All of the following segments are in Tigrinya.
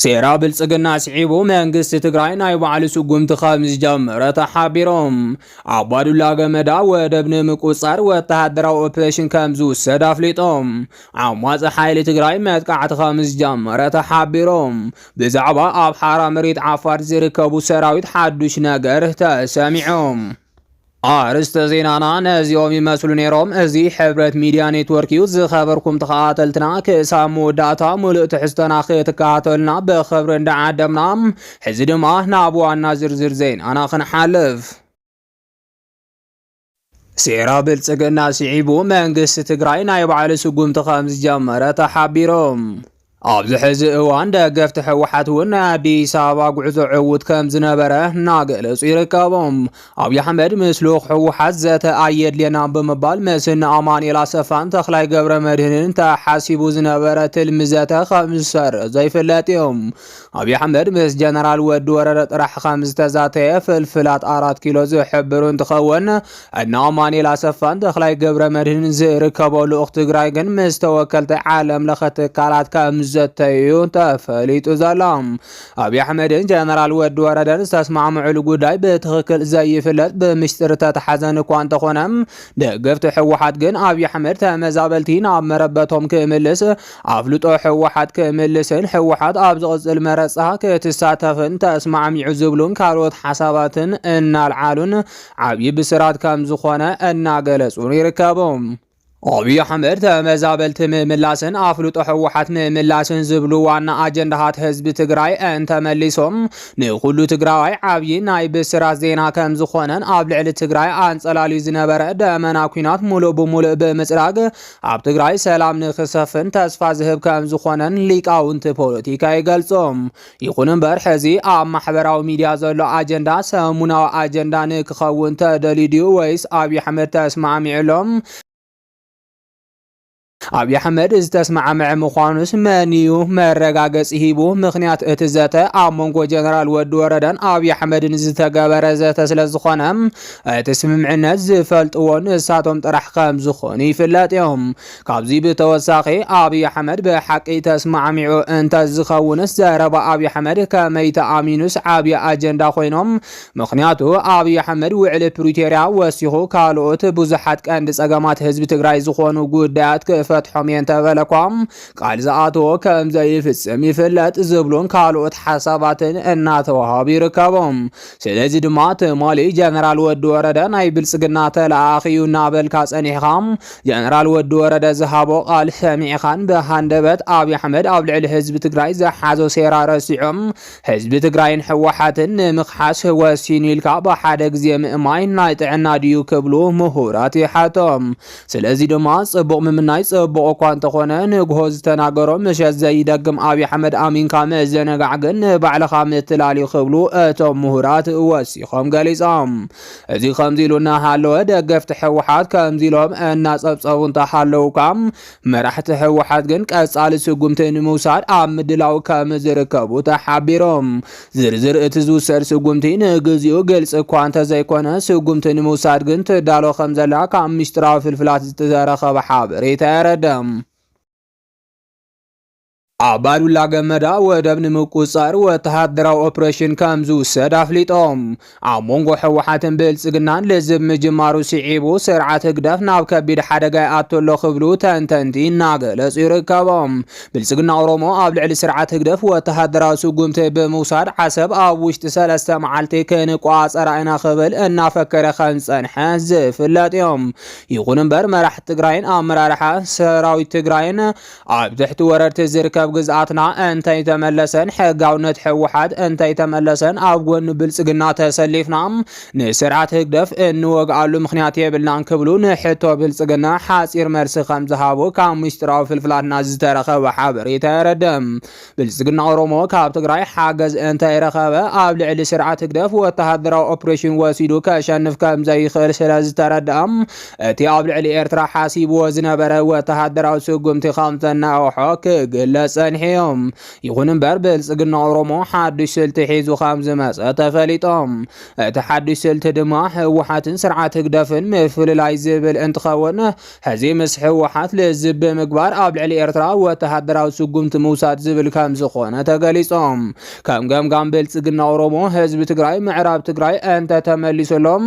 ሴራ ብልፅግና ስዒቡ መንግስቲ ትግራይ ናይ ባዕሉ ስጉምቲ ከምዝጀመረ ተሓቢሩ። ኣባዱላ ገመዳ ወደብ ንምቁፅፃር ወተሃደራዊ ኦፕሬሽን ከምዝውሰድ ኣፍሊጡ። ዓማፂ ሓይሊ ትግራይ መጥቃዕቲ ከምዝጀመረ ተሓቢሩ። ብዛዕባ ኣብ ሓራ መሬት ዓፋር ዝርከቡ ሰራዊት ሓዱሽ ነገር ተሰሚዑ። ኣርእስተ ዜናና ነዚኦም ይመስሉ ነይሮም። እዚ ሕብረት ሚድያ ኔትወርክ እዩ። ዝኸበርኩም ተኸታተልትና ክሳብ መወዳእታ ሙሉእ ትሕዝቶና ክትከታተሉና ብኽብሪ እንዳዓደምና ሕዚ ድማ ናብ ዋና ዝርዝር ዜናና ክንሓልፍ። ሴራ ብልፅግና ስዒቡ መንግስቲ ትግራይ ናይ ባዕሉ ስጉምቲ ከም ዝጀመረ ተሓቢሩ። ኣብዚ ሕዚ እዋን ደገፍቲ ህወሓት እውን ናይ ኣዲስ ኣበባ ጉዕዞ ዕውት ከም ዝነበረ እናገለጹ ይርከቡ። ኣብዪ ኣሕመድ ምስ ልኡኽ ህወሓት ዘተ ኣየድልየናን ብምባል ምስ እነ ኣማኑኤል ኣሰፋን ተኽላይ ገብረ መድህንን ተሓሲቡ ዝነበረ ትልሚ ዘተ ከም ዝሰረዞ ይፍለጥ እዩ። ኣብዪ ኣሕመድ ምስ ጀነራል ወዲ ወረደ ጥራሕ ከም ዝተዛተየ ፍልፍላት ኣራት ኪሎ ዝሕብሩ እንትኸውን እነ ኣማኒኤል ኣሰፋን ተኽላይ ገብረ መድህንን ዝርከቦ ልኡኽ ትግራይ ግን ምስ ተወከልቲ ዓለም ለኸ ትካላት ከም ዘተዩ ተፈሊጡ ዘሎ ኣብዪ ኣሕመድን ጀነራል ወዲ ወረደን ዝተስማዕምዑሉ ጉዳይ ብትኽክል ዘይፍለጥ ብምስጢር ተተሓዘን እኳ እንተኾነ ደገፍቲ ሕወሓት ግን ኣብዪ ኣሕመድ ተመዛበልቲ ናብ መረበቶም ክምልስ ኣፍልጦ ሕወሓት ክምልስን ሕወሓት ኣብ ዝቕፅል መረፃ ክትሳተፍን ተስማዕሚዑ ዝብሉን ካልኦት ሓሳባትን እናልዓሉን ዓብዪ ብስራት ከምዝኾነ እናገለፁን ይርከቡ። ኣብዪ ኣሕመድ ተመዛበልቲ ምምላስን ኣፍልጦ ህወሓት ምምላስን ዝብሉ ዋና ኣጀንዳታት ህዝቢ ትግራይ እንተመሊሶም ንኹሉ ትግራዋይ ዓብዪ ናይ ብስራት ዜና ከምዝኾነን ኣብ ልዕሊ ትግራይ ኣንፀላልዩ ዝነበረ ደመና ኩናት ሙሉእ ብሙሉእ ብምፅራግ ኣብ ትግራይ ሰላም ንክሰፍን ተስፋ ዝህብ ከምዝኾነን ሊቃውንቲ ፖለቲካ ይገልፆም። ይኹን እምበር ሕዚ ኣብ ማሕበራዊ ሚድያ ዘሎ ኣጀንዳ ሰሙናዊ ኣጀንዳ ንክኸውን ተደልዩ ድዩ ወይስ ኣብዪ ኣሕመድ ተስማዕሚዑሎም? ኣብዪ ኣሕመድ ዝተስማዕምዐ ምዃኑስ መን እዩ መረጋገፂ ሂቡ? ምኽንያት እቲ ዘተ ኣብ መንጎ ጀነራል ወዲ ወረደን ኣብዪ ኣሕመድን ዝተገበረ ዘተ ስለዝኾነ እቲ ስምምዕነት ዝፈልጥዎ ንሳቶም ጥራሕ ከምዝኾኑ ይፍለጥ እዮም። ካብዚ ብተወሳኺ ኣብይ ኣሕመድ ብሓቂ ተስማዕሚዑ እንተዝኸውንስ ዘረባ ኣብይ ኣሕመድ ከመይ ተኣሚኑስ ዓብይ ኣጀንዳ ኮይኑ ምኽንያቱ ኣብይ ኣሕመድ ውዕሊ ፕሪቶርያ ወሲኹ ካልኦት ብዙሓት ቀንዲ ፀገማት ህዝቢ ትግራይ ዝኾኑ ጉዳያት ክፈትሖም እየ እንተበለኳ ቃል ዝኣተዎ ከምዘይፍፅም ይፍለጥ ዝብሉን ካልኦት ሓሳባትን እናተዋሃቡ ይርከቦም ስለዚ ድማ ትማሊ ጀነራል ወዲ ወረደ ናይ ብልጽግና ተለኣኣኺ እዩ እናበልካ ጸኒሕኻ ጀነራል ወዲ ወረደ ዝሃቦ ቃል ሰሚዕኻን ብሃንደበት ኣብዪ ኣሕመድ ኣብ ልዕሊ ህዝቢ ትግራይ ዝሓዞ ሴራ ረሲዑም ህዝቢ ትግራይን ሕወሓትን ንምኽሓስ ወሲኑ ኢልካ ብሓደ ግዜ ምእማይ ናይ ጥዕና ድዩ ክብሉ ምሁራት ይሓቶም። ስለዚ ድማ ጽቡቕ ምምናይ ጽቡቕ እኳ እንተኾነ ንግሆ ዝተናገሮ ምሸት ዘይደግም ኣብይ ኣሕመድ ኣሚንካ ምዝንጋዕ ግን ንባዕልኻ ምትላል እዩ ክብሉ እቶም ምሁራት ወሲኾም ገሊጾም። እዚ ከምዚ ኢሉ እናሃለወ ደገፍቲ ህወሓት ከምዚ ኢሎም እናጸብጸቡ እንተሃለውካ መራሕቲ ህወሓት ግን ቀጻሊ ስጉምቲ ንምውሳድ ኣብ ምድላው ከምዝርከቡ ተሓቢሮም። ዝርዝር እቲ ዝውሰድ ስጉምቲ ንግዚኡ ግልፂ እኳ እንተዘይኮነ ስጉምቲ ንምውሳድ ግን ትዳሎ ከምዘላ ካብ ሚስጥራዊ ፍልፍላት ዝተረኸበ ሓበሬታ የረድእ። ኣባዱላ ገመዳ ወደብ ንምቁፅፃር ወተሃደራዊ ኦፕሬሽን ከምዝውሰድ ኣፍሊጦም። ኣብ መንጎ ሕወሓትን ብልፅግናን ልዝብ ምጅማሩ ስዒቡ ስርዓት ህግደፍ ናብ ከቢድ ሓደጋ ይኣቶ ኣሎ ክብሉ ተንተንቲ እናገለጹ ይርከቦም። ብልፅግና ኦሮሞ ኣብ ልዕሊ ስርዓት ህግደፍ ወተሃደራዊ ስጉምቲ ብምውሳድ ዓሰብ ኣብ ውሽጢ ሰለስተ መዓልቲ ክንቋፀራ ኢና ክብል እናፈከረ ከምዝፀንሐ ዝፍለጥ እዮም። ይኹን እምበር መራሕቲ ትግራይን ኣመራርሓ ሰራዊት ትግራይን ኣብ ትሕቲ ወረርቲ ዝርከብ ግዝኣትና እንተይተመለሰን ሕጋውነት ሕወሓት እንተይተመለሰን ኣብ ጎኒ ብልፅግና ተሰሊፍና ንስርዓት ህግደፍ እንወግኣሉ ምክንያት የብልናን ክብሉ ንሕቶ ብልፅግና ሓፂር መልሲ ከምዝሃቡ ካብ ምስጢራዊ ፍልፍላትና ዝተረኸበ ሓበሬታ የረድእ። ብልፅግና ኦሮሞ ካብ ትግራይ ሓገዝ እንተይረኸበ ኣብ ልዕሊ ስርዓት ህግደፍ ወተሃደራዊ ኦፕሬሽን ወሲዱ ከሸንፍ ከምዘይኽእል ስለዝተረድኣ እቲ ኣብ ልዕሊ ኤርትራ ሓሲብዎ ዝነበረ ወተሃደራዊ ስጉምቲ ከምዘናውሖ ክግለጽ ጸኒሑ ይኹን እምበር ብልፅግና ኦሮሞ ሓዱሽ ስልቲ ሒዙ ከምዝመፀ ተፈሊጦም እቲ ሓዱሽ ስልቲ ድማ ህወሓትን ስርዓት ህግደፍን ምፍልላይ ዝብል እንትኸውን ሕዚ ምስ ህወሓት ልዝብ ብምግባር ኣብ ልዕሊ ኤርትራ ወተሃደራዊ ስጉምቲ ምውሳድ ዝብል ከም ዝኾነ ተገሊጾም። ከም ገምጋም ብልጽግና ኦሮሞ ህዝቢ ትግራይ ምዕራብ ትግራይ እንተተመሊሱሎም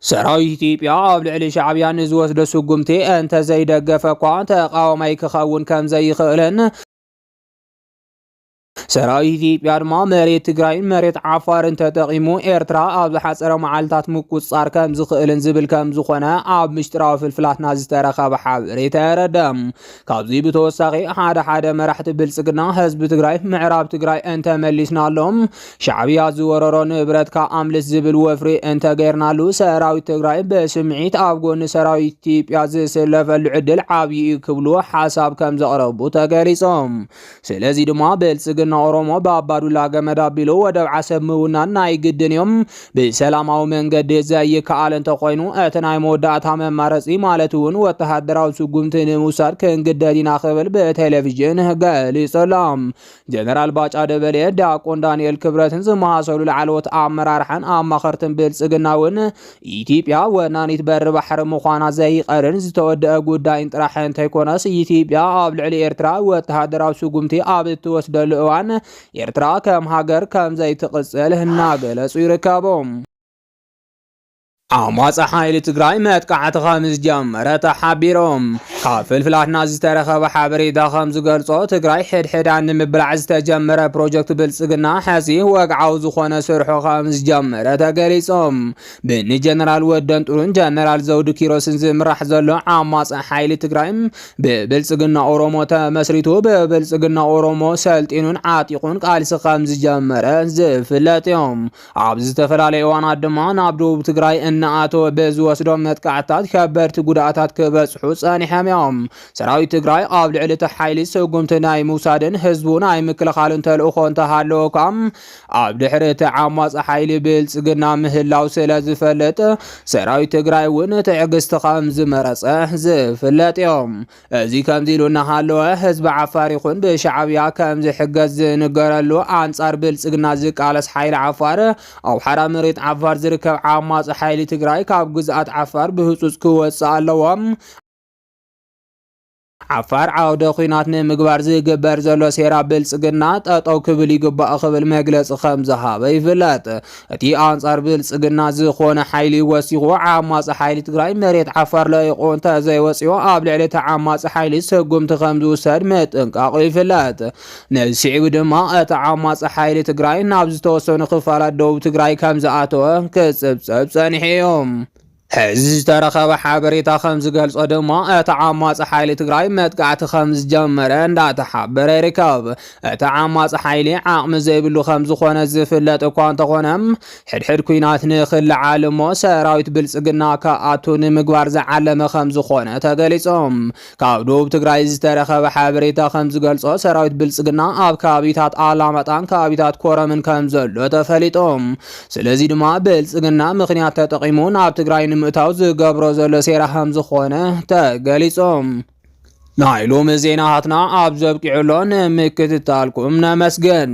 ሰራዊት ኢትዮጵያ ኣብ ልዕሊ ሻዕብያ ንዝወስዶ ስጉምቲ እንተዘይደገፈ እኳ ተቓዋማይ ክኸውን ከምዘይኽእልን ሰራዊት ኢትዮጵያ ድማ መሬት ትግራይን መሬት ዓፋርን ተጠቒሙ ኤርትራ ኣብ ዝሓፀረ መዓልታት ምቁፅፃር ከም ዝኽእልን ዝብል ከም ዝኾነ ኣብ ምስጢራዊ ፍልፍላትና ዝተረኸበ ሓበሬታ የረደም። ካብዚ ብተወሳኺ ሓደ ሓደ መራሕቲ ብልጽግና ህዝቢ ትግራይ ምዕራብ ትግራይ እንተመሊስናሎም ሻዕብያ ዝወረሮ ንብረትካ ኣምልስ ዝብል ወፍሪ እንተገይርናሉ ሰራዊት ትግራይ ብስምዒት ኣብ ጎኒ ሰራዊት ኢትዮጵያ ዝስለፈሉ ዕድል ዓብዪ እዩ ክብሉ ሓሳብ ከም ዘቕረቡ ተገሊጾም። ስለዚ ድማ ብልጽግና ኦሮሞ ብኣባዱላ ገመድ ኣቢሉ ወደብ ዓሰብ ምውናን ናይ ግድን እዩ። ብሰላማዊ መንገዲ ዘይከኣል እንተኾይኑ እቲ ናይ መወዳእታ መማረጺ ማለት እውን ወተሃደራዊ ስጉምቲ ንምውሳድ ክንግደድ ኢና ክብል ብቴሌቪዥን ገሊጹ ኣሎ። ጀነራል ባጫ ደበሌ፣ ዲያቆን ዳንኤል ክብረትን ዝመሳሰሉ ላዕለዎት ኣመራርሓን ኣማኸርትን ብልጽግና እውን ኢትዮጵያ ወናኒት በሪ ባሕሪ ምዃና ዘይቐርን ዝተወደአ ጉዳይን ጥራሕ እንተይኮነስ ኢትዮጵያ ኣብ ልዕሊ ኤርትራ ወተሃደራዊ ስጉምቲ ኣብ እትወስደሉ እዋን ኤርትራ ከም ሃገር ከም ዘይትቕጽል እናገለጹ ይርከቡ። ዓማጺ ሓይሊ ትግራይ መጥቃዕቲ ከም ዝጀመረ ተሓቢሮም። ካብ ፍልፍላትና ዝተረኸበ ሓበሬታ ከምዝገልፆ ትግራይ ሕድሕዳ ንምብላዕ ዝተጀመረ ፕሮጀክት ብልፅግና ሐዚ ወግዓዊ ዝኾነ ስርሑ ከምዝጀመረ ተገሊፆም። ብንጀነራል ወደን ጥሩን ጀነራል ዘውዱ ኪሮስን ዝምራሕ ዘሎ ዓማፂ ሓይሊ ትግራይ ብብልፅግና ኦሮሞ ተመስሪቱ ብብልፅግና ኦሮሞ ሰልጢኑን ዓጢቑን ቃልሲ ከምዝጀመረ ዝፍለጥ እዮም። ኣብ ዝተፈላለየ እዋናት ድማ ናብ ደቡብ ትግራይ እናኣተወ ብዝወስዶም መጥቃዕትታት ከበድቲ ጉድኣታት ክበፅሑ ፀኒሖም እዮም። ሰራዊት ትግራይ ኣብ ልዕሊ እቲ ሓይሊ ስጉምቲ ናይ ምውሳድን ህዝቡ ናይ ምክልኻልን ተልእኾ እንተሃለዎ እኳ ኣብ ድሕሪ እቲ ዓማፂ ሓይሊ ብልፅግና ምህላው ስለ ዝፈልጥ ሰራዊት ትግራይ እውን ትዕግስቲ ከም ዝመረፀ ዝፍለጥ እዮም። እዚ ከምዚ ኢሉ እናሃለወ ህዝቢ ዓፋር ይኹን ብሻዓብያ ከም ዝሕገዝ ዝንገረሉ ኣንጻር ብልጽግና ዝቃለስ ሓይሊ ዓፋር ኣብ ሓራ መሬት ዓፋር ዝርከብ ዓማጺ ሓይሊ ትግራይ ካብ ግዝኣት ዓፋር ብህጹጽ ክወጽእ ኣለዎ። ዓፋር ዓውደ ኩናት ንምግባር ዝግበር ዘሎ ሴራ ብልጽግና ጠጠው ክብል ይግባእ ክብል መግለጺ ከም ዝሃበ ይፍለጥ። እቲ ኣንጻር ብልጽግና ዝኾነ ሓይሊ ወሲኹ ዓማጺ ሓይሊ ትግራይ መሬት ዓፋር ለቂቑ እንተዘይወፂኦ ኣብ ልዕሊ እቲ ዓማጺ ሓይሊ ስጉምቲ ከም ዝውሰድ ምጥንቃቑ ይፍለጥ። ነዚ ስዒቡ ድማ እቲ ዓማጺ ሓይሊ ትግራይ ናብ ዝተወሰኑ ክፋላት ደቡብ ትግራይ ከም ዝኣተወ ክጽብጸብ ጸኒሑ እዩ። ሕዚ ዝተረኸበ ሓበሬታ ከምዝገልፆ ድማ እቲ ዓማፂ ሓይሊ ትግራይ መጥቃዕቲ ከምዝጀመረ እንዳተሓበረ ይርከብ። እቲ ዓማፂ ሓይሊ ዓቕሚ ዘይብሉ ከምዝኾነ ዝፍለጥ እኳ እንተኾነ ሕድሕድ ኩናት ንክለዓል እሞ ሰራዊት ብልፅግና ክኣቱ ንምግባር ዝዓለመ ከምዝኾነ ተገሊፆም። ካብ ዶብ ትግራይ ዝተረኸበ ሓበሬታ ከምዝገልፆ ሰራዊት ብልፅግና ኣብ ከባቢታት ኣላማጣን ከባቢታት ኮረምን ከምዘሎ ተፈሊጡ። ስለዚ ድማ ብልፅግና ምኽንያት ተጠቒሙ ናብ ትግራይ ንምእታው ዝገብሮ ዘሎ ሴራ ከምዝኾነ ተገሊፁ። ናይ ሎሚ ዜናታትና ኣብ ዘብቂዑ ኣሎ ንምክትታልኩም ነመስግን።